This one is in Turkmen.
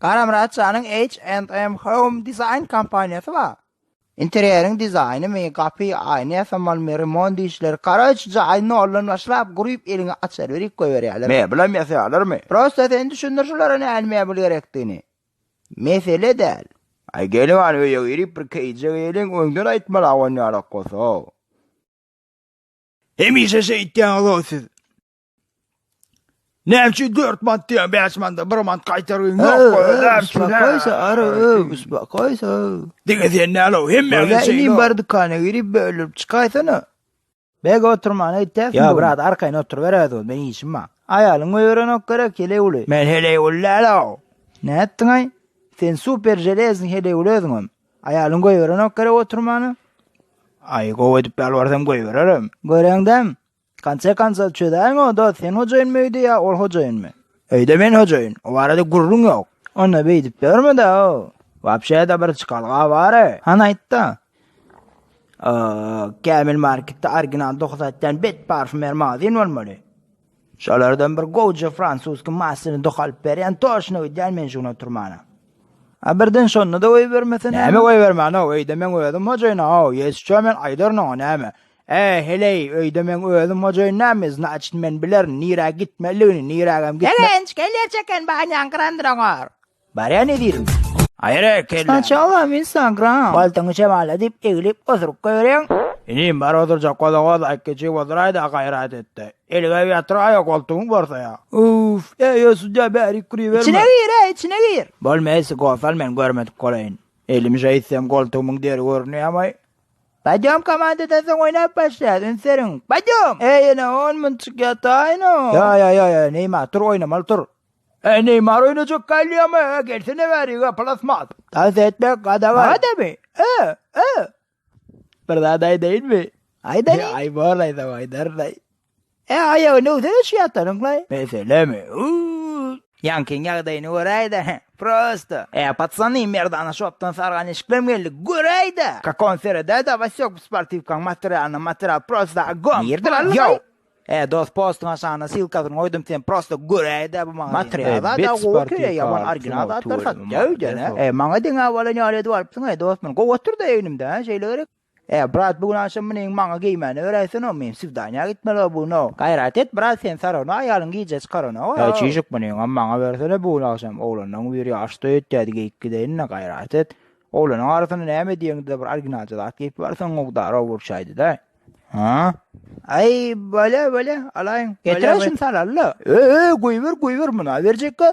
Garamyrat janyň H and M Home Design kompaniýasy bar. Interýeriň dizaýnymy, gapy, aýna ýasamalymy, remont işleri, karaoçe jaýy noldan başlap guryp eliňi açaryberik goýberýärler. Mebelam ýasaýarlarmy? Prosta sen düşündir şulara nähili mebel gerekdigini. Mesele däl. Aý gelin hany öýe girip bir keýjek eýleliň öňden aýtmaly awan ýalak bolsa. Hemişe şeýtýäňizow siz. Näçe 4 mant diýen 5 manda 1 mant gaýtaryn ýok goýarsyň. Goýsa ara öwüs goýsa. Diňe sen nälo hemme öwüs. Sen iň bar dükana girip bölüp çykaýsana. Beg oturman aýtýas. Ýa brat arkaýyn otur ber özü men işim bar. Aýalyň öýrenok gerek heleý uly. Men heleý uly nälo. Nätdiň aý? Sen super železny heleý uly özüňem. Aýalyň goýberenok gerek oturmana. Aý gowy edip ýalbarsam goýbererim. Göreňdem. Konse konsa çözäýiň onda sen hojaýyn öýde ýa ol hojaýynmy? Öýde men hojaýyn. O barada gürrüň ýok. Onda beýdip ýörme-de, wapşe-de bir çykalga bar-a. Han aýtdy. Kämil marketde original doky satýan bet parfýumer magazin bolmaly. Şolardan bir gowja fransuski masyny doky alyp berýän toşno gidýän men şuny oturmana. A birden şonda-da goýbermesene. Näme goýbermäne, öýde meň özüm hojaýyn-a, ýesço men aýdaryn oňa näme. Ä, heleý, öýde meň özüm hojaýyn näme, znaçt, men bilerin, nirä gitmelidigini, nirägem gitme. Begenç, gelýärçä eken, banýaň gyrandyr oňar. Barýan edirin. Aýra kelle. Snaçala men saňa gyran. Paltaňy şemala diýip, eglip, osuryp goýberýäň. Inim, bar odurjak gola-gola, iki çig oduraý-da, gaýrat et-de. Elgäp ýatyraý-a, goltugyň borsaý-a. Uff, äý, ýa sudýa, bärik giriberme. Içine gir-ä, içine gir. Bolmaýsa, gol sal, men görmedik bolaýyn. Elimi şeýtsem, goltugymyň deri görünýämaý. Podýom komandadan soň oýnap başlaýas, üns beriň! Podýom! Äý, ene, on minut çykýataýyn-a! Ýa-ýa-ýa, Neýmar, tur, oýnamaly, tur! Äý, Neýmar oýnajak galýamy? Ä, gelsene bäri, ýa, plasmas! Tans etmek gadagan! Maňa-damy? Ä, ä! Bir zat aýdaýynmy? Aýdalyň! Aý, bor, aýdama, aýdaryn-aý. E aýagy nöwze geçýätdiriňlaý. Meselemi? Uuu. Ýaňkyň ýagdaýyny göräýdä, he, prosto. E, patsany, merdana şopdan sargan eşiklem geldi, göräýdä! Kak on seredäýdä, Wasyok, bu sportiwkaň materialyna material prosto ogom! Nirde bar, ýow! E, dost, postuň aşagyna silkasyny goýdum, sen prosto göräýdä bu magazyny. Material zat-a gowy ekeni, ýaman original zatlar satýa öýdene. E, maňa deňä bolan ýaly edip alypsyň-aý, dost, muny gowy oturdy egnimde, hä, şeýle gerek. Ä brat bu gün agşam meniň maňa geýmäni beräýsene men swidaniýa gitmelä bu gün oo. Gaýrat et brat sen sarona aýalyň gije çykarana oo. Ä çişik meniňem maňa bersene bu gün agşam oglanlaň biri ýaş toý etýädi geýip gideýinle gaýrat et. Oglanyň arasynda näme diýeňde-de bir orginalja zat geýip barsaň mukdary owurçaýdy-da. Hä? Aý bolýa bolýa alaýyn. Getirä şuny salalla. Öý öý goýber goýber muna berjekka